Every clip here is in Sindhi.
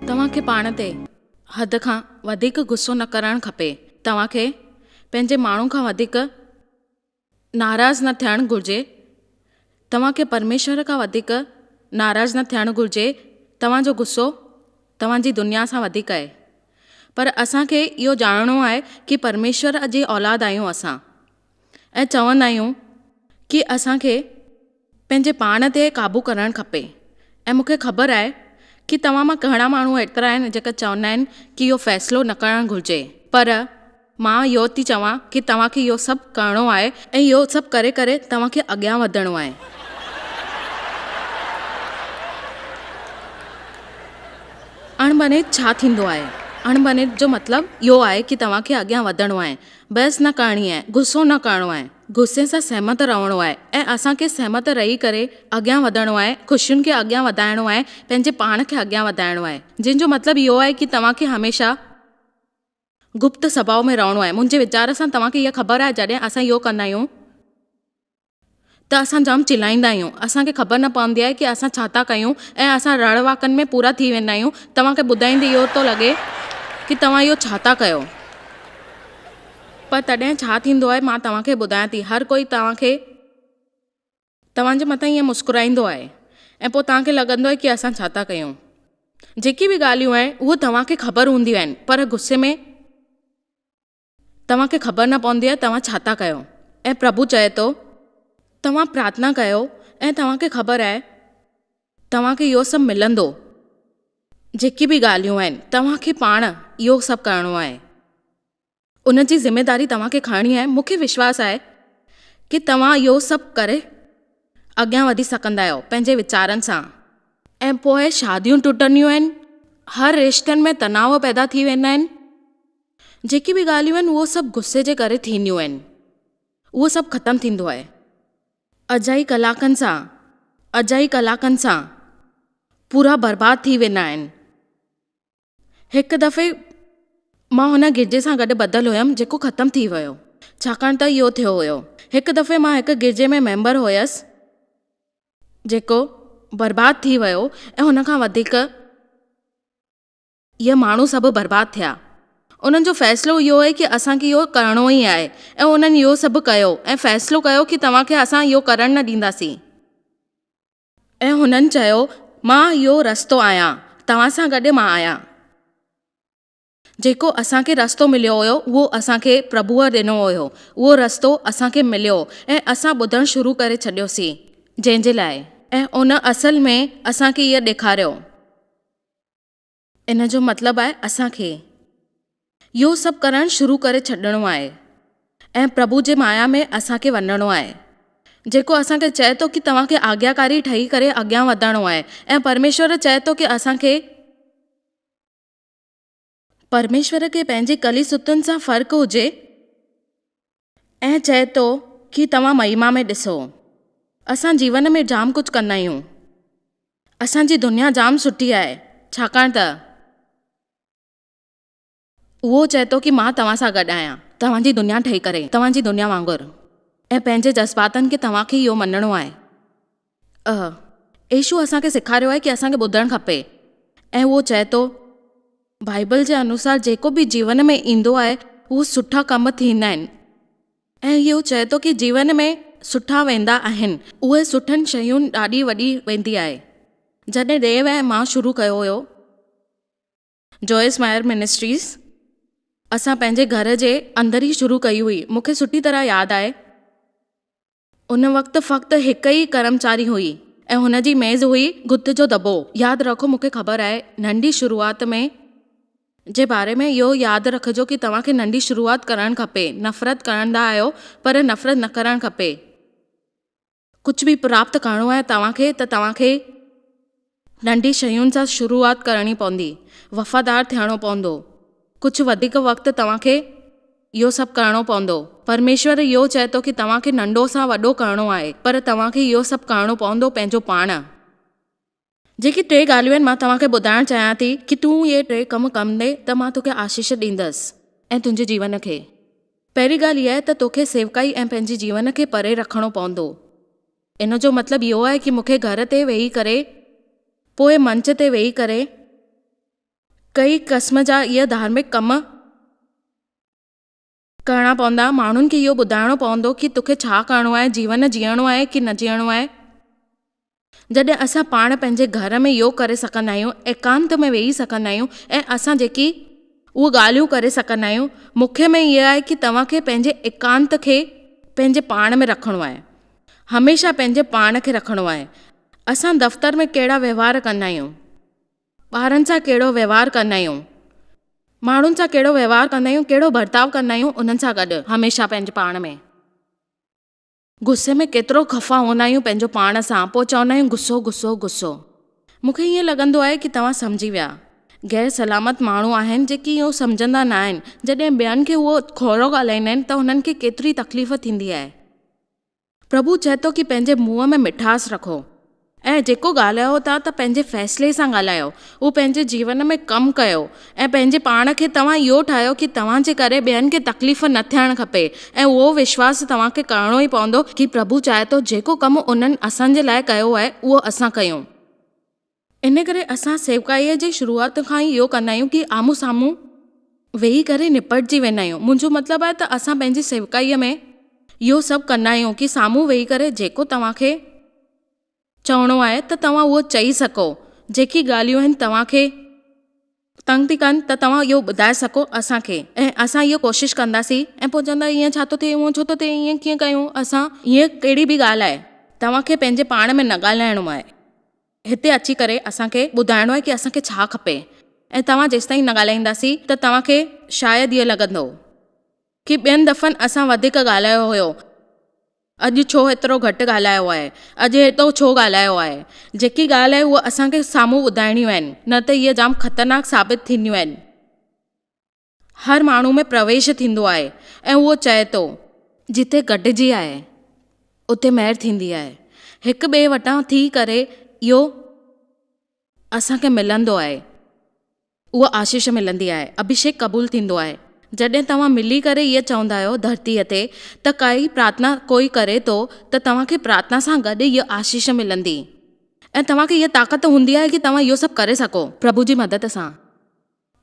توهان کي پاڻ تي حد کان وڌيڪ غصو نه ڪرڻ کپي. توهان کي پنهنجي ماڻهو کان وڌيڪ ناراض نه ٿيڻ گهرجي. توهان کي پرميشور کان وڌيڪ ناراض نه ٿيڻ گهرجي. توهان جو غصو توهان جي دنيا سان وڌيڪ آهي پر اسان کي اهو ڄاڻڻو آهي ڪي پرميشور جي اولاد آهيون اسان ۽ چوندا آهيون ڪي اسان کي پنهنجي پاڻ تي قابو ڪرڻ کپي ۽ مون کي خبر آهي ڪي توهان مان گهڻا ماڻهو ايترا آهن جيڪا چوندا آهن ڪي اهو فيصلو نه ڪرڻ گهرجي پر مان اهو ٿي چوان ڪي توهان کي اهو سڀ ڪرڻو آهي ۽ اهو سڀ ڪري ڪري توهان کي اڳيان وڌڻو آهي. اڻڀڃيت ڇا ٿيندو آهي؟ اڻڀڃيت جو مطلب اهو آهي ڪي توهان کي اڳيان وڌڻو آهي، بحث نه ڪرڻي آهي، غصو نه ڪرڻو آهي، غصي سان سهمت رهڻو آهي ۽ اسان کي سهمت رهي ڪري اڳيان وڌڻو آهي، خوشين کي اڳيان وڌائڻو آهي، پنهنجي پاڻ کي اڳيان وڌائڻو آهي، جنهن جو مطلب اهو آهي ڪي توهان کي هميشه. گپت سڀاء ۾ رهڻو آهي. منهنجي ويچار سان توهان کي اها خبر آهي جڏهن اسان اهو ڪندا آهيون ته اسان جام چلائيندا آهيون. اسان کي خبر نه پوندي آهي ڪي اسان ڇا ٿا ڪيون ۽ اسان رڙ واڪن ۾ پورا ٿي ويندا آهيون. توهان کي ٻڌائيندي اهو ٿو لڳي ڪي توهان اهو ڇا ٿا ڪيو. پر تڏهن ڇا ٿيندو آهي مان توهان کي ٻڌايان ٿي. هر ڪوئي توهان کي. توهان جي مٿان ائين مسڪرائيندو آهي ۽ پوء توهان کي لڳندو آهي ڪي اسان ڇا ٿا ڪيون. جيڪي به ڳالهيون آهن اهي توهان کي خبر هونديون آهن پر غصي ۾ توهان کي خبر نه پوندي آهي توهان ڇا ٿا ڪيو ۽ پرڀو چئي ٿو توهان پرارٿنا ڪيو ۽ توهان کي خبر آهي توهان کي اهو سڀ ملندو جيڪي به ڳالهيون آهن توهان کي پاڻ اهو سڀ ڪرڻو آهي. ان جي ذميداري توهان کي کڻڻي آهي، مون کي وشواس آهي ڪي توهان اهو سڀ ڪري اڳيان وڌي سگهندا آهيو پنهنجي ويچارن سان. ۽ پوء شاديون ٽٽنديون آهن، هر رشتن ۾ تناو پيدا ٿي ويندا آهن، جيڪي به ڳالهيون آهن اهو سڀ غصي جي ڪري ٿينديون آهن، اهو سڀ ختم ٿيندو آهي اجائي ڪلاڪن سان، اجائي ڪلاڪن سان پورا برباد ٿي ويندا آهن. هڪ دفعي مان هن گرجي سان گڏ ٻڌل هيم جيڪو ختم ٿي ويو ڇاڪاڻ ته اهو ٿيو هيو هڪ دفعي مان هڪ گرجي ۾ ميمبر هيس جيڪو برباد ٿي ويو ۽ هن کان وڌيڪ اهي ماڻهو سڀ برباد ٿيا انهن جو فيصلو اهو هي ڪي اسان کي اهو ڪرڻو ئي آهي ۽ انهن اهو سڀ ڪيو ۽ فيصلو ڪيو ڪي توهان کي اسان اهو ڪرڻ نه ڏينداسين ۽ هنن چيو، مان اهو رستو آهيان، توهان سان گڏ مان آهيان. جيڪو اسان کي رستو مليو هيو، اهو اسان کي پرڀوء ڏنو هيو، اهو رستو اسان کي مليو، ۽ اسان ٻڌڻ شروع ڪري ڇڏيوسين، جنهن جي لاء. ۽ ان اصل ۾ اسان کي اهي ڏيکاريو. ان جو مطلب آهي اسان کي اهو سڀ ڪرڻ شروع ڪري ڇڏڻو آهي ۽ پرڀو جي مايا ۾ اسان کي وڃڻو آهي جيڪو اسان کي چئي ٿو ڪي توهان کي آگياڪاري ٺهي ڪري اڳيان وڌڻو آهي ۽ پرميشور چئي ٿو ڪي اسان کي پرميشور کي پنهنجي ڪلي ستون سان فرق هجي. ائين چئي ٿو ڪي توهان مهيما ۾ ڏسو اسان جيون ۾ جام ڪجهه ڪندا آهيون اسان جي دنيا جام سٺي آهي ڇاڪاڻ ته اهو چئي ٿو ڪي مان توهان سان گڏ آهيان توهان جي دنيا ٺهي ڪري توهان جي دنيا وانگر ۽ پنهنجي جذباتن کي توهان کي اهو مڃڻو آهي. اهو يسوع اسان کي سيکاريو آهي ڪي اسان کي ٻڌڻ کپي ۽ اهو چئي ٿو بائبل جي انوسار جيڪو به جيون ۾ ايندو آهي اهو سٺا ڪم ٿيندا آهن ۽ اهو چئي ٿو ڪي جيون ۾ سٺا ويندا آهن اهي سٺن شين ڏاڏي وڏي ويندي آهي جڏهن ڊيو ۽ مان شروع ڪيو هيو جوئس مائر منسٽريز اسان پنهنجي گهر جي اندر ئي شروع ڪئي هئي. مون کي سٺي طرح ياد آهي ان وقت فقط هڪ ئي ڪرمچاري هئي ۽ هن جي ميز هئي گد جو دٻو. ياد رکو مون کي خبر آهي ننڍي شروعات ۾ جي باري ۾ اهو ياد رکجو ڪي توهان کي ننڍي شروعات ڪرڻ کپي نفرت ڪرندا آهيو پر نفرت نه ڪرڻ کپي. ڪجهه به پراپت ڪرڻو آهي توهان کي ته توهان کي ننڍي شين سان شروعات ڪرڻي پوندي، وفادار ٿيڻو پوندو، ڪجهه وڌيڪ وقت توهان کي اهو سڀ ڪرڻو پوندو، پرميشور اهو چئي ٿو ڪي توهان کي ننڍو سان وڏو ڪرڻو آهي پر توهان کي اهو سڀ ڪرڻو پوندو پنهنجو پاڻ. جيڪي ٽي ڳالهيون آهن مان توهان کي ٻڌائڻ چاهيان ٿي ڪي تون اهي ٽي ڪم ڪندي ته مان توکي آشيش ڏيندس ۽ تنهنجي جيون کي پهرين ڳالهه اها ته توکي سيوڪائي ۽ پنهنجي جيون کي پري رکڻو پوندو ان جو مطلب اهو آهي ڪي مونکي گهر تي ويهي ڪري پوء منچ تي ويهي ڪري ڪئي قسم جا اهي ڌارمڪ ڪم ڪرڻا پوندا، ماڻهن کي اهو ٻڌائڻو پوندو ڪي توکي ڇا ڪرڻو آهي، جيون جيئڻو آهي ڪي نه جيئڻو آهي. جڏهن اسان پاڻ پنهنجي گهر ۾ يوگ ڪري سگهندا آهيون، ايڪانت ۾ ويهي سگهندا آهيون ۽ اسان جيڪي. اهي ڳالهيون ڪري سگهندا آهيون، مکيه ۾ اهي آهي ڪي توهان کي پنهنجي ايڪانت کي پنهنجي پاڻ ۾ رکڻو آهي، هميشه پنهنجي پاڻ کي رکڻو آهي، اسان دفتر ۾ ڪهڙا وهنوار ڪندا آهيون، ٻارن سان ڪهڙو وهنوار ڪندا آهيون، ماڻهن سان ڪهڙو وهنوار ڪندا آهيون، ڪهڙو برتاء ڪندا آهيون انهن سان گڏ هميشه پنهنجي پاڻ ۾. غصي ۾ ڪيترو خفا هوندا آهيون پنهنجو پاڻ سان پوء چوندا آهيون غصو غصو غصو. مون کي ائين لڳندو آهي ڪي توهان سمجهي ويا. غير سلامت ماڻهو آهن جيڪي اهو سمجهندا نه آهن جڏهن ٻين کي اهو کهرو ڳالهائيندا آهن ته هنن کي ڪيتري تڪليف ٿيندي آهي. پرڀو چئي ٿو ڪي پنهنجي منهن ۾ مٺاس رکو ۽ جيڪو ڳالهايو ٿا ته پنهنجي فيصلي سان ڳالهايو اهو پنهنجي جيون ۾ ڪم ڪيو ۽ پنهنجي پاڻ کي توهان اهو ٺاهيو ڪي توهان جي ڪري ٻين کي تڪليف نه ٿيڻ کپي ۽ اهو وشواس توهان کي ڪرڻو ئي پوندو ڪي پرڀو چاهي ٿو جيڪو ڪم انهن اسان جي لاء ڪيو آهي اهو اسان ڪيون. ان ڪري اسان سيوڪائيء جي شروعات کان ئي اهو ڪندا آهيون ته آمهون سامهون ويهي ڪري نپٽجي ويندا آهيون. منهنجو مطلب آهي ته اسان پنهنجي سيوڪائيء ۾ اهو سڀ ڪندا آهيون ته سامهون ويهي ڪري جيڪو توهان کي چوڻو آهي ته توهان اهو چئي سگهو، جيڪي ڳالهيون آهن توهان کي. تنگ ٿي ڪن ته توهان اهو ٻڌائي سگهو اسان کي ۽ اسان اهو ڪوشش ڪنداسين ۽ پوء چوندا ايئن ڇا ٿو ٿئي هونئن ڇو ٿو ٿئي ايئن ڪيئن ڪيون اسان هيء ڪهڙي به ڳالهه آهي توهان کي پنهنجي پاڻ ۾ نه ڳالهائڻو آهي هتي اچي ڪري اسان کي ٻڌائڻو آهي ڪي اسان کي ڇا کپي ۽ توهان جيستائين نه ڳالهائينداسين ته توهان کي شايد اهو لڳندو ڪي ٻين دفعن اسان وڌيڪ ڳالهايو هيو. اڄ ڇو ايترو گهٽ ڳالهايو آهي؟ اڄ ايتو ڇو ڳالهايو آهي؟ جيڪي ڳالهه آهي اهو اسان کي سامهون ٻڌائڻيون آهن نه ته اهي جام خطرناڪ ثابت ٿينديون آهن. هر ماڻهو ۾ پرويش ٿيندو آهي ۽ اهو چئي ٿو. جتي گڏجي آهي اتي مهر ٿيندي آهي. هڪ ٻئي وٽان ٿي ڪري اهو اسان کي ملندو آهي. اها آشيش ملندي آهي، اڀشيڪ قبول ٿيندو آهي. جڏهن توهان ملي ڪري اهي چوندا آهيو ڌرتيء تي ته ڪائي پرارٿنا ڪوئي ڪري ٿو ته توهان کي پرارٿنا سان گڏ اهي آشيش ملندي ۽ توهان کي اها طاقت ته هوندي آهي ڪي توهان اهو سڀ ڪري سگهو. پرڀو جي مدد سان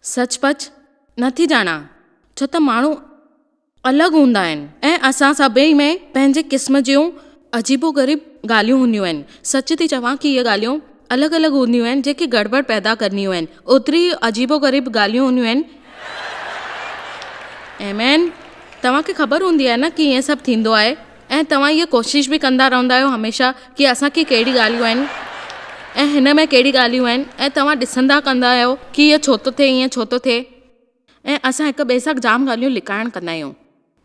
سچ پچ نه ٿي ڄاڻان ڇو ته ماڻهو. الڳ هوندا آهن ۽ اسان سڀئي ۾ پنهنجي قسم جون عجيبو غريب ڳالهيون هونديون آهن. سچ ٿي چوان ڪي ڳالهيون الڳ الڳ هونديون آهن جيڪي گڙٻڙ پيدا ڪنديون آهن اوتري ئي عجيبو غريب ڳالهيون هونديون آهن. ايمين توهان کي خبر هوندي آهي نه ڪي ائين سڀ ٿيندو آهي ۽ توهان اها ڪوشش به ڪندا رهندا آهيو هميشه ڪي اسان کي ڪهڙي ڳالهيون آهن ۽ هن ۾ ڪهڙي ڳالهيون آهن ۽ توهان ڏسندا ڪندا آهيو ڪي اهو ڇو ٿو ٿئي ائين ڇو ٿو ٿئي. ۽ اسان هڪ ٻئي سان جام ڳالهيون لڪائڻ ڪندا آهيون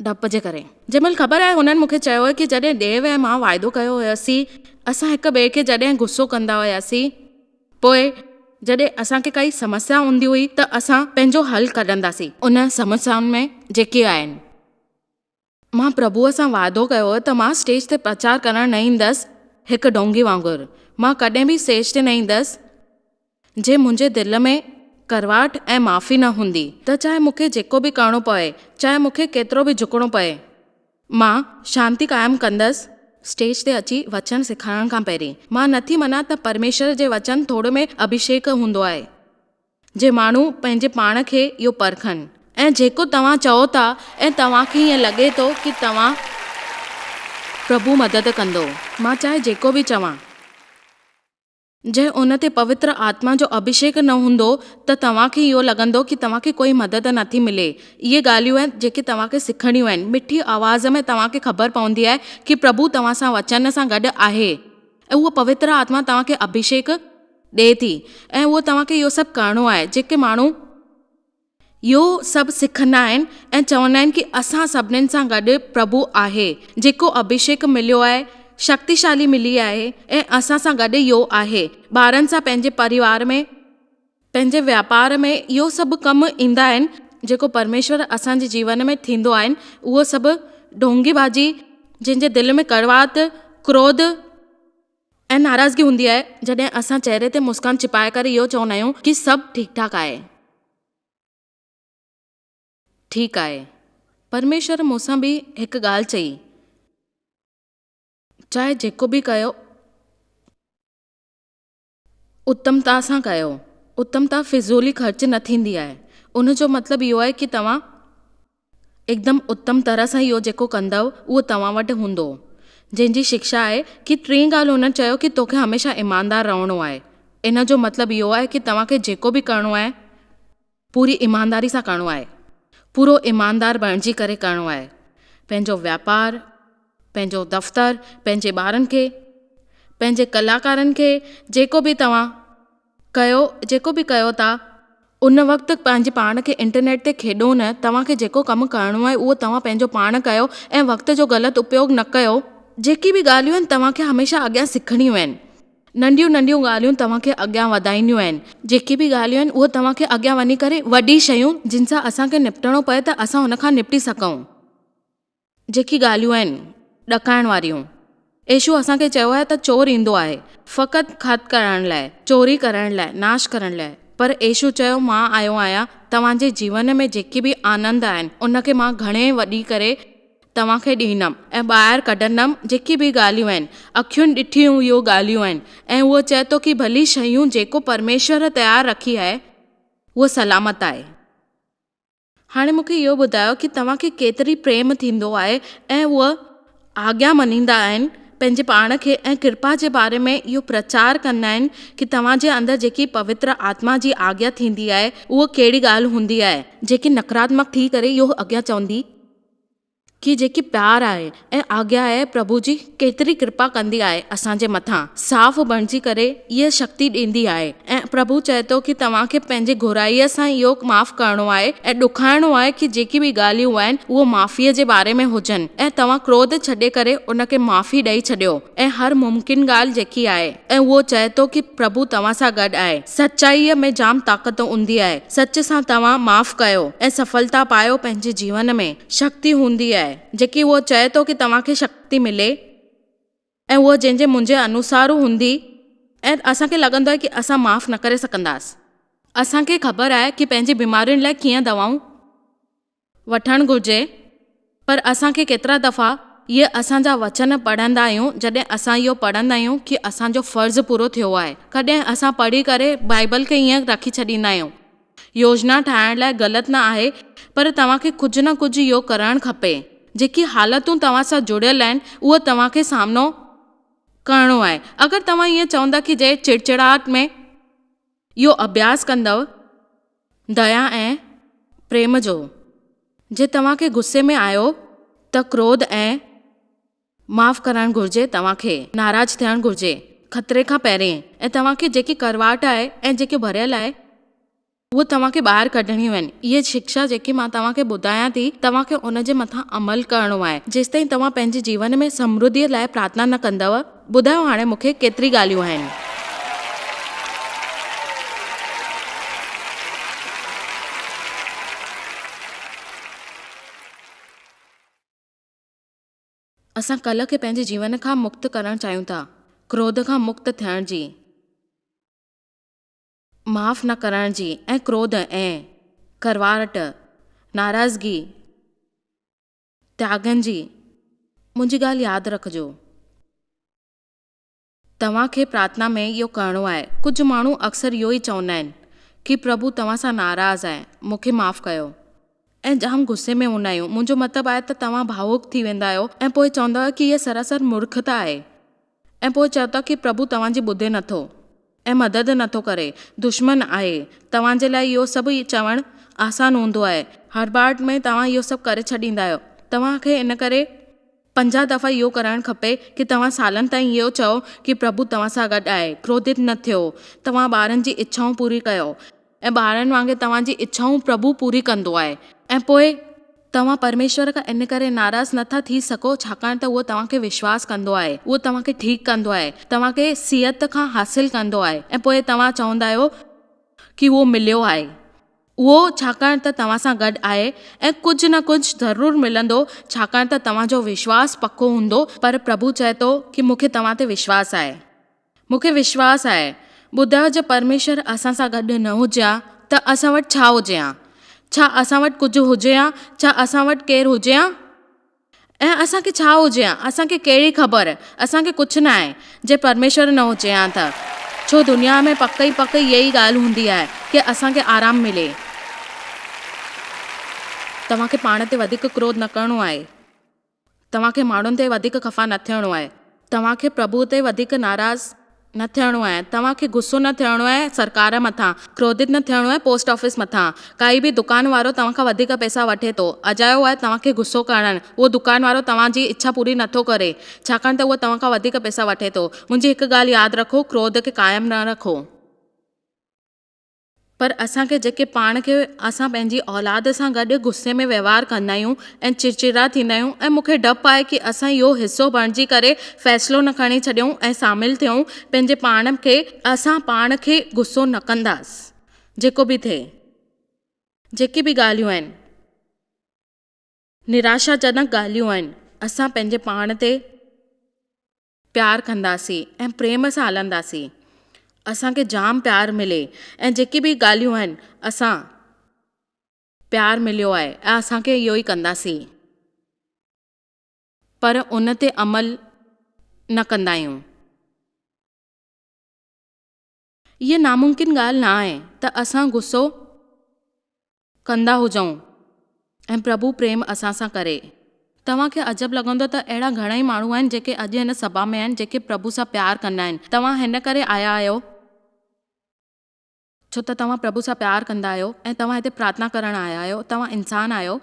ڊپ جي ڪري. جنهن مهل خبر آهي هنن مون کي چيو هو ڪي جڏهن ڊيو ۽ مان واعدو ڪيو هياسين اسان هڪ ٻئي کي جڏهن غصو ڪندا هياسين پوء جڏهن اسان کي ڪائي سمسيا هوندي هئي ته اسان پنهنجو حل ڪڍنداسين انهن سمسيائن ۾ جيڪي آهن. مان پرڀوء سان وعدو ڪيو هو ته مان اسٽيج تي پرچار ڪرڻ نه ايندس، هڪ ڍونگي وانگر، مان ڪڏهن به اسٽيج تي نه ايندس، جي منهنجي دل ۾ ڪڙواهٽ ۽ معافي نه هوندي ته چاهي مون کي جيڪو به ڪرڻو پوي، چاهي مون کي ڪيترو به جهڪڻو پوي، مان شانتي قائم ڪندس. اسٽيج تي اچي وچن سيکارڻ کان پهرين، مان نه ٿي مڃان ته پرميشور جي وچن ٿوڙ ۾ اڀشيڪ هوندو آهي. جي ماڻهو پنهنجي پاڻ کي اهو پرکن ۽ جيڪو توهان چئو ٿا ۽ توهان کي ائين لڳي ٿو ڪي توهان پرڀو مدد ڪندو مان چاهي جيڪو به چوان جي ان تي پوتر آتما جو اڀشيڪ نه هوندو ته توهان کي اهو لڳندو ڪي توهان کي ڪوئي مدد نه ٿي ملي اهي ڳالهيون آهن جيڪي توهان کي سکڻيون آهن مٺي آواز ۾ توهان کي خبر پوندي آهي ڪي پرڀو توهان سان وچن سان گڏ آهي. ۽ اها پوتر آتما توهان کي اڀيشيڪ ڏئي ٿي ۽ اهو توهان کي اهو سڀ ڪرڻو آهي جيڪي ماڻهو اهو سڀ سکندا آهن ۽ چوندا آهن ڪي اسان سڀنين سان گڏ پرڀو آهي جيڪو اڀيشيڪ مليو آهي شڪتيشالي ملي آهي ۽ اسان سان گڏ اهو آهي ٻارن سان پنهنجي پريوار ۾ پنهنجي واپار ۾ اهو سڀ ڪم ايندا آهن جيڪو پرميشور اسان جي جيون ۾ ٿيندو آهن اهو سڀ ڍونگي بازي جنهن جي دل ۾ ڪڙواهت ڪروڌ ۽ ناراضگي هوندي آهي جڏهن اسان چهري تي مسڪان ڇپائي ڪري اهو چوندا آهيون ڪي سڀ ٺيڪ ٺاڪ آهي ٺيڪ آهي پرميشور مون سان به هڪ ڳالهه چئي چاهي جيڪو به ڪيو اتمتا سان ڪيو. اتمتا فضولي خرچ نه ٿيندي آهي. ان جو مطلب اهو آهي ڪي توهان اڪدم اتم طرح سان اهو جيڪو ڪندؤ اهو توهان وٽ هوندو. جنهن جي شڪشا آهي ڪي ٽين ڳالهه هن چيو ڪي توکي هميشه ايماندار رهڻو آهي. ان جو مطلب اهو آهي ڪي توهان کي جيڪو به ڪرڻو آهي. پوري ايمانداري سان ڪرڻو آهي، پورو ايماندار بڻجي ڪري ڪرڻو آهي، پنهنجو واپار، پنهنجو دفتر، پنهنجي ٻارن کي، پنهنجي ڪلاڪارن کي جيڪو به توهان ڪيو جيڪو به ڪيو ٿا ان وقت پنهنجي پاڻ کي انٽرنيٽ تي کيڏو نه، توهان کي جيڪو ڪم ڪرڻو آهي اهو توهان پنهنجو پاڻ ڪيو ۽ وقت جو غلط اپيوگ نه ڪيو، جيڪي به ڳالهيون آهن توهان کي هميشه اڳيان سکڻيون آهن. ننڍيون ننڍيون ڳالهيون توهان کي اڳيان وڌائينديون آهن جيڪي به ڳالهيون آهن اهي توهان کي اڳيان وڃي ڪري وڏي شيون جن سان اسان کي نپٽڻو پئي ته اسان ان کان نپٽي سگهون جيڪي ڳالهيون آهن ڏڪائڻ واريون ايشو اسان کي چيو آهي ته چور ايندو آهي فقط کت ڪرڻ لاء چوري ڪرڻ لاء ناش ڪرڻ لاء پر ايشو چيو مان آيو آهيان توهان جي جيون ۾ جيڪي به آنند آهن ان کي مان گهڻي وڏي ڪري توهان کي ڏيندم ۽ ٻاهر ڪڍندم جيڪي به ڳالهيون آهن اکين ڏٺيون اهو ڳالهيون آهن ۽ هو چئي ٿو ڪي ڀلي شيون جيڪو پرميشور تيار رکي آهي هو سلامت آهي هاڻي مون کي اهو ٻڌايو ڪي توهان کي ڪيتري پريم ٿيندو آهي ۽ هو آگيا مڃيندا آهن پنهنجي پاڻ کي ۽ ڪرپا جي باري ۾ اهو پرچار ڪندا آهن ڪي توهان جي اندر جيڪي پوتر آتما جي آگيا ٿيندي آهي اهو ڪهڙي ڳالهه هوندي آهي جيڪي نڪراتمڪ ٿي ڪري اهو اڳيان چوندي کي جيڪي پيار آهي ۽ آگيا آهي پرڀو جي ڪيتري ڪرپا ڪندي آهي اسان جي مٿان صاف بڻجي ڪري اهي شڪتي ڏيندي آهي ۽ پرڀو چئي ٿو کي توهان کي پنهنجي گهرائي سان اهو معاف ڪرڻو آهي ۽ ڏکائڻو آهي کي جيڪي به ڳالهيون آهن اهو معافي جي باري ۾ هجن ۽ توهان ڪروڌ ڇڏي ڪري ان کي معافي ڏئي ڇڏيو. ۽ هر ممڪن ڳالهه جيڪي آهي ۽ اهو چئي ٿو ڪي پرڀو توهان سان گڏ آهي. سچائيء ۾ جام طاقت هوندي آهي. سچ سان توهان معاف ڪيو ۽ سڦلتا پايو پنهنجي جيون ۾ شڪتي هوندي آهي جيڪي اهو چئي ٿو ڪي توهان کي شڪتي ملي ۽ اهو جنهن جي منهنجي انوسارو هوندي ۽ اسان کي لڳندو آهي ڪي اسان معاف نه ڪري سگهنداس. اسان کي خبر آهي ڪي پنهنجي بيمارين لاء ڪيئن دوائون. وٺڻ گهرجي پر اسان کي ڪيترا دفعا اهي اسان جا وچن پڙهندا آهيون جڏهن اسان اهو پڙهندا آهيون ڪي اسان جو فرض پورو ٿيو آهي ڪڏهن اسان پڙهي ڪري بائيبل کي ائين رکي ڇڏيندا آهيون يوجنا ٺاهڻ لاء غلط نه آهي پر توهان کي ڪجهه نه ڪجهه اهو ڪرڻ کپي جيڪي حالتون توهان سان جڙيل آهن اهو توهان کي سامنو ڪرڻو آهي اگر توهان ائين چوندا ڪي جي چڙچڙاهٽ ۾ اهو اڀياس ڪندؤ ديا ۽ پريم جو. جي توهان کي غصي ۾ آيو ته ڪروڌ ۽ معاف ڪرڻ گهرجي توهان کي ناراض ٿيڻ گهرجي خطري کان پهرين ۽ توهان کي جيڪي ڪڙواهٽ آهي ۽ جيڪي ڀريل آهي اهي توهان کي ٻاهر ڪڍڻيون آهن اهي شڪشا جيڪي مان توهان کي ٻڌايان ٿي توهان کي ان جي مٿان عمل ڪرڻو آهي جيستائين توهان پنهنجي جيون ۾ سمرڌي لاء پرارٿنا نه ڪندؤ ٻڌايو هاڻي مون کي ڪيتري ڳالهيون آهن. اسان ڪلهه کي پنهنجي جيون کان مڪت ڪرڻ چاهيون ٿا ڪروڌ کان مڪت ٿيڻ جي معاف نه ڪرڻ جي ۽ ڪروڌ ۽ ڪروارٽ ناراضگي تياڳن جي، منهنجي ڳالهه ياد رکجو. توهان کي پرارٿنا ۾ اهو ڪرڻو آهي. ڪجهه ماڻهو اڪثر اهو ئي چوندا آهن ڪي پرڀو توهان سان ناراض آهي، مون کي معاف ڪيو. ۽ جام غصي ۾ هوندا آهيون. منهنجو مطلب آهي ته توهان ڀاوڪ ٿي ويندا آهيو ۽ پوء چوندا آهيو ڪي هيء سراسر مورکتا آهي. ۽ پوء چئو ٿا ڪي پرڀو توهان جي ٻڌي نه ٿو ۽ مدد نه ٿو ڪري، دشمن آهي. توهان جي لاء اهو سڀ چوڻ آسان هوندو آهي. هڙٻاهٽ ۾ توهان اهو سڀ ڪري ڇڏيندا آهيو. توهان کي ان ڪري پنجاهه دفعا اهو ڪرڻ کپي ڪي توهان سالن تائين اهو چئو ڪي پرڀو توهان سان گڏ آهي. ڪروڌت نه ٿيو. توهان ٻارن جي اڇائون پوري ڪيو. ۽ ٻارن وانگي توهان جي اڇائون پرڀو پوري ڪندو آهي ۽ پوء توهان پرميشور کان ان ڪري ناراض نه ٿا ٿي سگهو ڇاڪاڻ ته اهو توهان کي وشواس ڪندو آهي اهو توهان کي ٺيڪ ڪندو آهي توهان کي صحت کان حاصل ڪندو آهي ۽ پوء توهان چوندا آهيو ڪي اهو مليو آهي اهو ڇاڪاڻ ته توهان سان گڏ آهي ۽ ڪجهه نه ڪجهه ضرور ملندو ڇاڪاڻ ته توهان جو وشواس پڪو هوندو پر پرڀو چئي ٿو ڪي مون کي توهان تي وشواس آهي. مون کي وشواس آهي، ٻڌاء جي پرميشور اسان سان گڏ نه هجي ها ته اسان وٽ ڇا هجي ها؟ ڇا اسان وٽ ڪجهه هجي ها؟ ڇا اسان وٽ ڪير هجي ها؟ ۽ اسان کي ڇا هجي ها؟ اسان کي ڪهڙي خبر؟ اسان کي ڪجهه نه آهي، جي پرميشور نه هجي ها ته. ڇو دنيا ۾ پڪ ئي پڪ اها ئي ڳالهه هوندي آهي ڪي اسان کي آرام ملي. توهان کي پاڻ تي وڌيڪ ڪروڌ نه ڪرڻو آهي. توهان کي ماڻهن تي وڌيڪ خفا نه ٿيڻو آهي. توهان کي پرڀوء تي وڌيڪ ناراض نه ٿيڻو آهي. توهان کي غصو نه ٿيڻو آهي سرڪار مٿان، ڪروڌت نه ٿيڻو آهي پوسٽ آفيس مٿان. ڪائي به دڪان وارو توهان کان وڌيڪ پئسا وٺي ٿو، اجايو آهي توهان کي غصو ڪرڻ. اهو دڪان وارو توهان جي اڇا پوري نه ٿو ڪري، ڇاڪاڻ ته اهو توهان کان وڌيڪ پئسا وٺي ٿو. منهنجي هڪ ڳالهه ياد رکو، ڪروڌ کي قائم نه رکو. پر اسان کي جيڪي پاڻ کي اسان پنهنجي اولاد سان گڏ غصي ۾ وهنوار ڪندا آهيون ۽ چڙچڙا ٿيندا آهيون ۽ مون کي ڊپ آهي ڪي اسان اهو حصو بڻجي ڪري فيصلو نه کڻي ڇڏيون ۽ شامل ٿيون پنهنجي پاڻ کي. اسان پاڻ کي غصو نه ڪنداس جيڪو به ٿئي جيڪي به ڳالهيون آهن نراشا جنڪ ڳالهيون آهن اسان پنهنجي پاڻ تي پيار ڪنداسي ۽ پريم سان هلنداسي اسانکي جام پيار ملي ۽ جيڪي به ڳالهيون آهن اسان پيار مليو آهي ۽ اسانکي اهو ئي ڪنداسي پر ان تي عمل نه ڪندا آهيون. هيء ناممڪن ڳالهه نه آهي ته اسان غصو ڪندا هجون ۽ پرڀو پريم اسان سان ڪري. توهان کي عجب لڳندو ته اهڙا گهڻائي ماڻهو آهن جيڪي اڄ هن سڀا ۾ آهن جيڪي پرڀو سان پيار ڪندا آهن. توهان هن ڪري آيا آهيو ڇو ته توهان پرڀو سان پيار ڪندا آهيو ۽ توهان هتي پرارٿنا ڪرڻ آيا آهيو. توهان انسان آهيو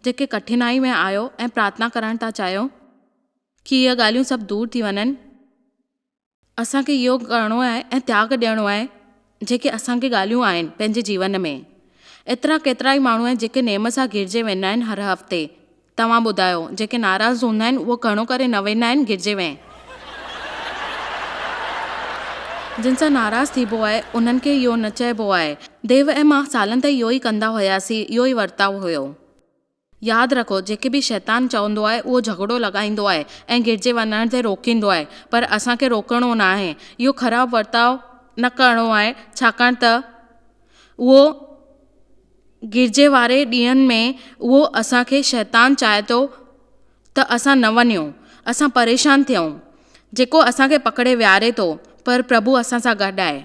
جيڪي ڪٺنائي ۾ آهيو ۽ پرارٿنا ڪرڻ ٿا چاهيو ڪي هيء ڳالهيون سڀ دور ٿي وڃن. اسان کي يوگ ڪرڻو آهي ۽ تياگ ڏيڻو آهي جيڪي اسان کي ڳالهيون آهن پنهنجي جيون ۾ ايترا ڪيترا ئي ماڻهو آهن جيڪي نيم سان گرجي ويندا آهن هر هفتي توهان ٻڌايو جيڪي ناراض هوندا آهن اهو گهڻو ڪري نه ويندا آهن گرجي ۾ جن سان ناراض ٿيبو آهي انهن کي اهو نه چئبو آهي ديو ۽ مان سالن تائين اهو ئي ڪندا هياسين اهو ئي ورتاء هيو. ياد رکو جيڪي به شيطان چوندو آهي اهو جهڳڙو لڳائيندو آهي ۽ گڏجي وڃڻ تي روڪيندو آهي پر اسان کي روڪڻو ناهي اهو خراب ورتاء نه ڪرڻو آهي ڇاڪاڻ ته اهو گڏجي واري ڏينهن ۾ اهو اسان کي شيطان چائي ٿو ته اسان نه وڃون، اسان پريشان ٿيون، جيڪو اسان کي پڪڙي ويهاري ٿو، پر پرڀو اسان سان گڏ آهي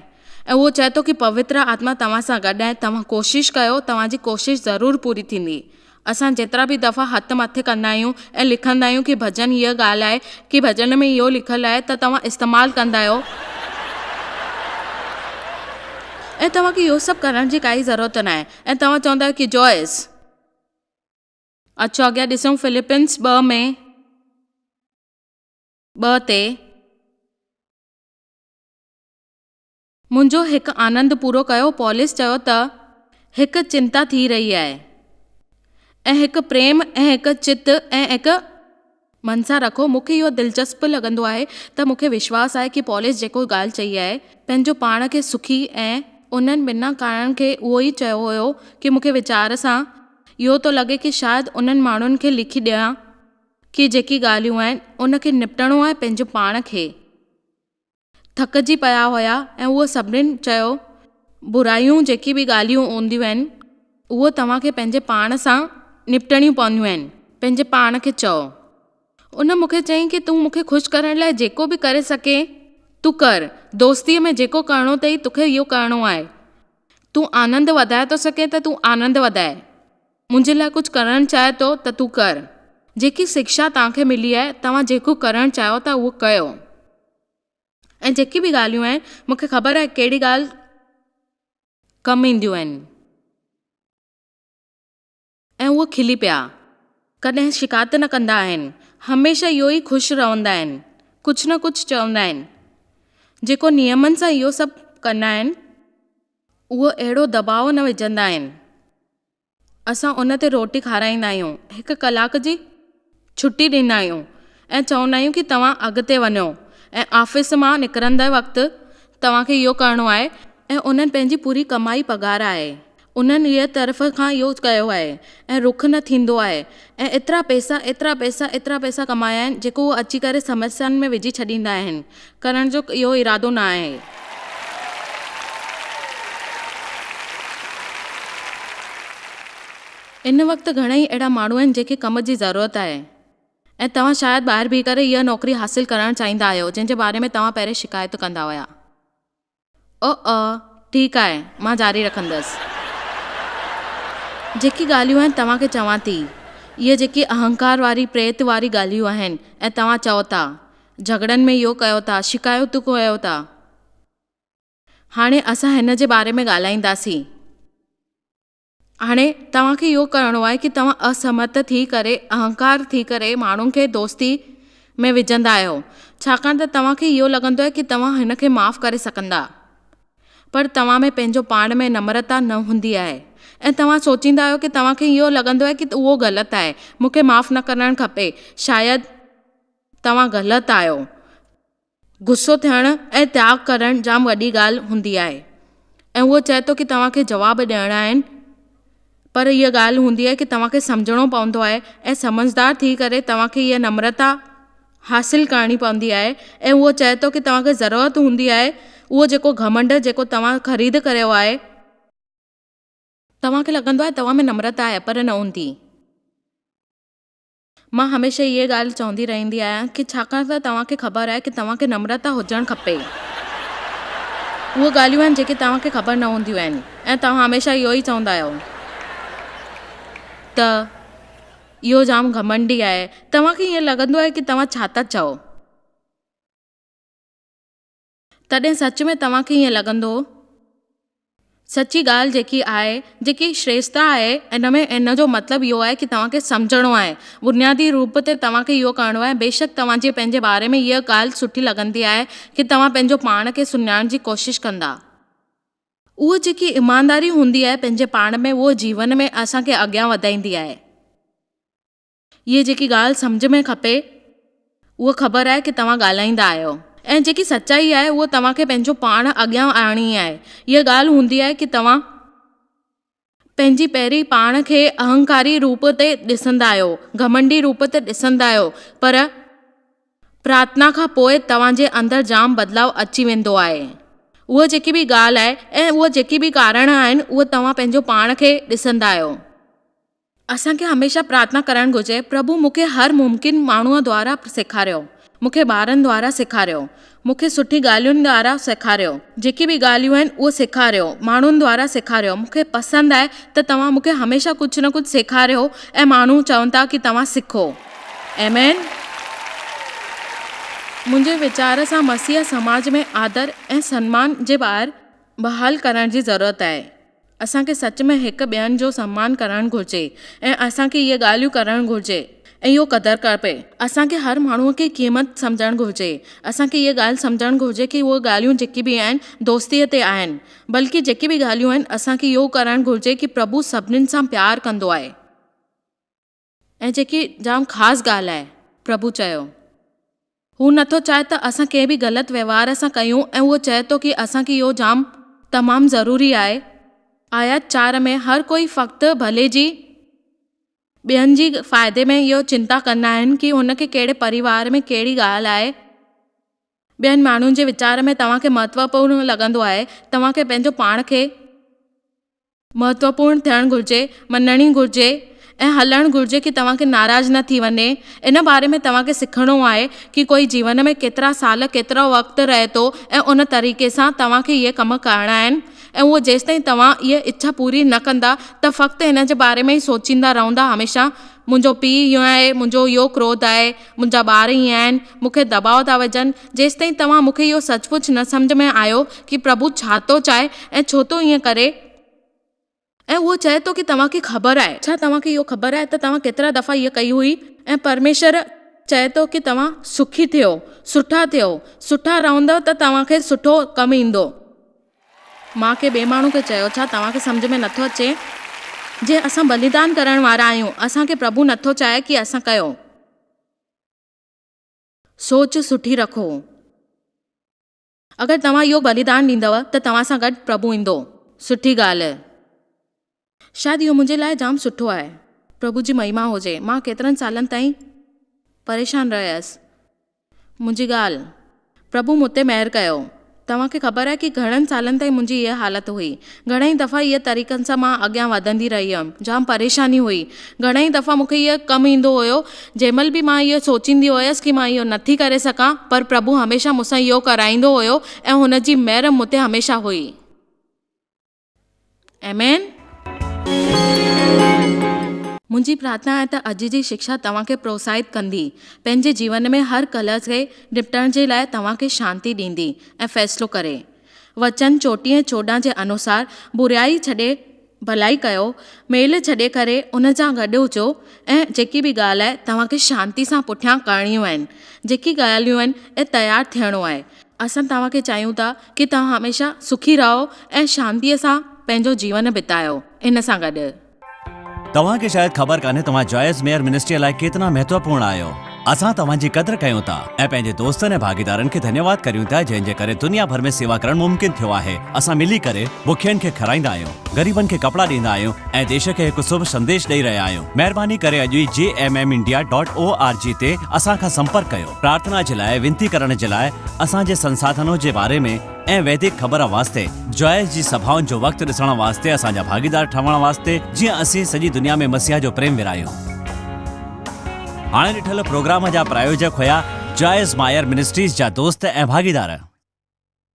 ۽ هو چئي ٿو ڪي پوتر آتما توهان سان گڏ آهي توهان ڪوشش ڪيو توهان جي ڪوشش ضرور پوري ٿيندي اسان جيترا به دفعا هٿ مٿي ڪندا آهيون ۽ لکندا آهيون ڪي ڀڄن هيء ڳالهه آهي ڪي ڀڄن ۾ اهو لکيل آهي ته توهان استعمال ڪندا آهيو ۽ توهان کي اهو سڀ ڪرڻ جي ڪائي ضرورت ناهي ۽ توهان چوندا آهيو ڪي جويس اچو اڳيان ڏسون فلپنس ٻه ۾ ٻه تي منهنجو هڪ آنند پورو ڪيو پولس چيو ته هڪ چنتا ٿي رهي آهي ۽ هڪ پريم ۽ هڪ چت ۽ هڪ من سان رکو مون کي اهو دلچسپ لڳندو آهي ته مون کي وشواس آهي ڪي پولس جيڪو ڳالهه چئي آهي پنهنجو پاڻ کي سکي ۽ انهن ٻنهان ڪارڻن کي اهو ئي چيو هيو ڪي مون کي ويچار سان اهو ٿو لڳي ڪي شايد انهن ماڻهن کي لکي ڏيان ڪي جيڪي ڳالهيون آهن ان کي نپٽڻو آهي پنهنجو پاڻ کي ٿڪجي پيا هيا ۽ هو سڀني چيو برايون جيڪي به ڳالهيون هونديون آهن اهي توهان کي پنهنجي پاڻ سان نپٽڻيون پونديون آهن پنهنجي پاڻ کي چئو. ان مون کي چيائين ته تون مون کي خوش ڪرڻ لاء جيڪو به ڪري سگهين تون ڪر، دوستيء ۾ جيڪو ڪرڻو اٿئي توکي اهو ڪرڻو آهي، تون آنند وڌائي ٿو سگهين ته تون آنند وڌاء. منهنجي لاء ڪجهه ڪرڻ چاهي ٿو ته تون ڪر. جيڪي سکشا توهان کي ملي آهي، توهان جيڪو ڪرڻ چاهيو ٿا اهو ڪيو. ۽ جيڪي به ڳالهيون آهن، مون کي خبر آهي ڪهڙي ڳالهه ڪم اينديون آهن. ۽ هو کلي پيا. ڪڏهن شڪايت نه ڪندا آهن. هميشه اهو ئي خوش رهندا آهن. ڪجهه نه ڪجهه چوندا آهن. جيڪو نيمن سان اهو سڀ ڪندا آهن، اهو اهڙو دٻاء نه وجهندا آهن. اسان ان تي روٽي کارائيندا آهيون، هڪ ڪلاڪ جي ڇٽي ڏيندا آهيون ۽ چوندا آهيون ته توهان اڳتي وڃو ۽ آفيس مان نڪرندي وقت توهان کي اهو ڪرڻو آهي ۽ انهن پنهنجي پوري ڪمائي پگهار آهي انهن جي طرف کان اهو ڪيو آهي ۽ رک نه ٿيندو آهي ۽ ايترا پئسا، ايترا پئسا، ايترا پئسا ڪمايا آهن، جيڪو هو اچي ڪري سمسيائن ۾ وجهي ڇڏيندا آهن، ڪرڻ جو اهو ارادو نه آهي. ان وقت گهڻائي اهڙا ماڻهو آهن، جن کي ڪم جي ضرورت آهي ۽ توهان شايد ٻاهر بيهي ڪري اها نوڪري حاصل ڪرڻ چاهيندا آهيو، جنهن جي باري ۾ توهان پهرين شڪايتون ڪندا هيا. او او ٺيڪ آهي مان جاري رکندس. جيڪي ڳالهيون آهن توهان کي چوان ٿي. اهي جيڪي اهنڪار واري پريت واري ڳالهيون آهن ۽ توهان چئو ٿا. جهڳڙن ۾ اهو ڪيو ٿا شڪايتون ڪيو ٿا. هاڻي اسان هن جي باري ۾ ڳالهائينداسين. هاڻي توهان کي اهو ڪرڻو آهي ڪي توهان اسمرٿ ٿي ڪري اهنڪار ٿي ڪري ماڻهن کي دوستي ۾ وجهندا آهيو ڇاڪاڻ ته توهان کي اهو لڳندو آهي ڪي توهان هن کي معاف ڪري سگهندا پر توهان ۾ پنهنجو پاڻ ۾ نمرتا نه هوندي آهي ۽ توهان سوچيندا آهيو ڪي توهان کي اهو لڳندو آهي ڪي اهو غلط آهي مون کي معاف نه ڪرڻ کپي شايد توهان غلط آهيو ته غصو ٿيڻ ۽ تياڳ ڪرڻ جام وڏي ڳالهه هوندي آهي ۽ هو چئي ٿو ڪي توهان کي جواب ڏيڻا آهن پر هيء ڳالهه هوندي آهي ڪي توهان کي سمجهڻو پوندو آهي ۽ سمجهدار ٿي ڪري توهان کي هيء نمرتا حاصل ڪرڻي پوندي آهي ۽ هو چئي ٿو ڪي توهان کي ضرورت هوندي آهي اهو جيڪو گهمنڊ جيڪو توهان خريد ڪريو آهي توهان کي لڳندو آهي توهان ۾ نمرتا آهي پر نه هوندي. مان هميشه اهي ڳالهه چوندي رهندي آهيان ڪي ڇاڪاڻ ته توهان کي خبر آهي ڪي توهان کي نمرتا هجڻ کپي اهي ڳالهيون آهن جيڪي توهان کي خبر نه هونديون آهن ۽ توهان هميشه اهو ئي چوندا آهيو ته اهو جام گهمنڊي آهي توهان کي ائين لڳندو آهي ڪي توهان ڇا ٿا چئو. تڏهن سچ ۾ توهان کي ائين لڳندو سچي ڳالهه جيڪي آهي، جيڪي شريستا آهي ان ۾ ان جو مطلب اهو آهي ڪي توهان کي سمجهڻو آهي. بنيادي روپ تي توهان کي اهو ڪرڻو آهي بيشڪ توهان جي پنهنجي باري ۾ اها ڳالهه سٺي لڳندي آهي ڪي توهان پنهنجو پاڻ کي سڃاڻڻ جي ڪوشش ڪندا. اها جيڪي ايمانداري هوندي آهي پنهنجي پاڻ ۾ اهو جيون ۾ اسان کي اڳيان وڌائيندي آهي. اهي جيڪي ڳالهه سمجهه ۾ کپي اهو خبر آهي ڪي توهان ڳالهائيندا آهيو ۽ جيڪي سچائي آهي اهو توهان کي پنهنجو پاڻ اڳيان آڻڻي آهي اها ڳالهه هوندي آهي ڪي توهان پنهنجي پهرين پاڻ کي اهنڪاري روپ تي ڏسندا آهيو گهمنڊي روپ تي ڏسندا آهيو پر پرارٿنا کان پوء توهان جي اندر جام بدلاء اچي ويندو آهي اها جيڪي به ڳالهه آهي ۽ اها جيڪي به ڪارڻ آهن اهو توهان پنهنجو پاڻ کي ڏسندا آهيو. اسان کي هميشه پرارٿنا ڪرڻ گهرجي، پرڀو مون کي هر ممڪن ماڻهوء دوارا سيکاريو، مون کي ٻارن دوارا سيکاريو، مون کي سٺي ڳالهين دوارا سيکاريو، جيڪي به ڳالهيون آهن اهي سيکاريو، ماڻهن دوارا سيکاريو، مون کي پسند آهي ته توهان مون کي هميشه ڪجهه نه ڪجهه سيکاريو ۽ ماڻهو چون ٿا ڪي توهان سکو. آمين. منهنجي ويچار سان مسيحي سماج ۾ آدر ۽ سنمان جي ٻار بحال ڪرڻ جي ضرورت آهي. اسان کي سچ ۾ هڪ ٻين جو سمان ڪرڻ گهرجي ۽ اسان کي اهي ڳالهيون ڪرڻ گهرجي ۽ اهو قدر کپي. اسان کي هر ماڻهو کي قيمت سمجهڻ گهرجي. اسان کي اهي ڳالهه سمجهڻ گهرجي ڪي اهي ڳالهيون جيڪي به آهن دوستي تي آهن بلڪه جيڪي به ڳالهيون آهن اسان کي اهو ڪرڻ گهرجي ڪي پرڀو سڀنين سان پيار ڪندو آهي. ۽ جيڪي جام خاص ڳالهه آهي، پرڀو چيو، هو نه ٿو چاهي ته اسان ڪنهن به غلط وهنوار سان ڪيون ۽ هو چئي ٿو ڪي اسان کي اهو جام تمام ضروري آهي. آيت چار ۾ هر ڪوئي فقط ڀلي جي ٻين جي فائدي ۾ اهو چنتا ڪندا آهن ڪي هن کي ڪهڙي پريوار ۾ ڪهڙي ڳالهه آهي ٻين ماڻهن جي ويچار ۾ توهان کي مهتوپورن لڳندو آهي توهان کي پنهنجو پاڻ کي مهتوپورڻ ٿيڻ گهرجي، مڃڻي گهرجي ۽ هلڻ گهرجي ڪي توهان کي ناراض نه ٿي وڃي. ان باري ۾ توهان کي سکڻو آهي ڪي ڪوئي جيون ۾ ڪيترا سال، ڪيترو وقت رهي ٿو ۽ ان طريقي سان توهان کي اهي ڪم ڪرڻا آهن ۽ اهو جيستائين توهان اهي اڇا پوري نه ڪندا ته فقط ان جي باري ۾ ئي سوچيندا رهندا هميشه منهنجو پيء اهو آهي، منهنجو اهو ڪروڌ آهي، منهنجا ٻار ئي آهن، مون کي دٻاء ٿا وجهن، جيستائين توهان مون کي اهو سچ پچ نه سمجهه ۾ آيو ڪي پرڀو ڇا ٿو چاهي ۽ ڇو ٿو ائين ڪري. ۽ اهو چئي ٿو ڪي توهان کي خبر آهي. ڇا توهان کي اهو خبر آهي ته توهان ڪيترا دفعا هيء ڪئي هئي ۽ پرميشور چئي ٿو ڪي توهان سکي ٿيو، سٺا ٿيو، سٺا رهندؤ ته توهان کي سٺو ڪم ايندو. مان ڪنهن ٻئي ماڻهو کي چيو، ڇا توهان کي سمجهه ۾ نه ٿو اچي؟ جي اسان بليدان ڪرڻ وارا آهيون، اسان کي پرڀو نه ٿو چاهي ڪي اسان ڪيو. سوچ سٺي رکو. اگر توهان اهو بليدان ڏيندؤ ته توهان سان گڏ پرڀو ايندو. سٺي ڳالهه. شايد اهو منهنجي لاء جام سٺو آهي. پرڀو جي مهيما هجي. مان ڪيترن سالن تائين پريشان رهيس. منهنجي ڳالهه. پرڀو مون تي مهر ڪيو. توهان کي خبر آهي ڪي گهڻن سالن تائين منهنجي اها حالت هئي. گهڻائي دفعا اهي طريقن سان مان اڳيان وڌندي رهي هيم. جام پريشاني هئي. گهڻائي دفعا مون کي اهو ڪم ايندو هيو. جنهن مهل به مان اهو سوچيندي هيس ڪي مان اهو نٿي ڪري سگهان پر پرڀو هميشه مون سان اهو ڪرائيندو هيو ۽ هن جي مهر مون تي هميشه هئي. Amen. منهنجي پرارٿنا آهي ته اڄ جي شڪشا توهان کي پروتساهت ڪندي، پنهنجي جيون ۾ هر ڪلهه کي نپٽڻ جي لاء توهان کي شانتي ڏيندي ۽ فيصلو ڪري. وچن چوٽيهه چوڏهن جي انوسار بريائي ڇڏي ڀلائي ڪيو، ميل ڇڏي ڪري ان جان گڏ هجو ۽ جيڪي به ڳالهه آهي توهان کي شانتي سان پٺيان ڪرڻيون آهن، جيڪي ڳالهيون آهن ۽ تيار ٿيڻو آهي. اسان توهان کي چاهيون ٿا ڪي توهان هميشه سکي رهو ۽ شانتيء سان پنهنجو جيون بتايو ان سان گڏ. توهان کي شايد خبر ڪانهي توهان جوائس ميئر منسٽريء لاء ڪيترا مهتوپورڻ آهيو. اسان توهان جي قدر ڪيون ٿا ۽ پنهنجي دوستن ۽ ڀاڳيدارن کي ڌنيواد ڪريون ٿا جنهن جي ڪري دنيا ڀر ۾ سيوا ڪرڻ ممڪن ٿيو آهي. اسان ملي ڪري بکين کي کارائيندا آهيون، غريبن کي ڪپڙا ڏيندا آهيون ۽ ديش کي هڪ سڀ سنديش ڏئي رهيا آهيون. مهرباني ڪري اڄ ئي G M M India dot O R G تي اسان کان سمپرڪ ڪيو. پرارٿنا جي لاء وينتي ڪرڻ جي لاء اسان جي سنساڌنو جي باري ۾ ۽ ويدڪ خبر واسطي جوائس جي سڀائن جو وقت ڏسڻ واسطي اسان جا ڀاڳيدار ٺهڻ واسطي جيئن اسين سڄي دنيا ۾ مسيح جو پريم ورهايون. هاڻي ڏٺل پروگرام جا پرايوجڪ هيا جوائس مائر منسٽريز جا دوست ۽ ڀاڳيدار.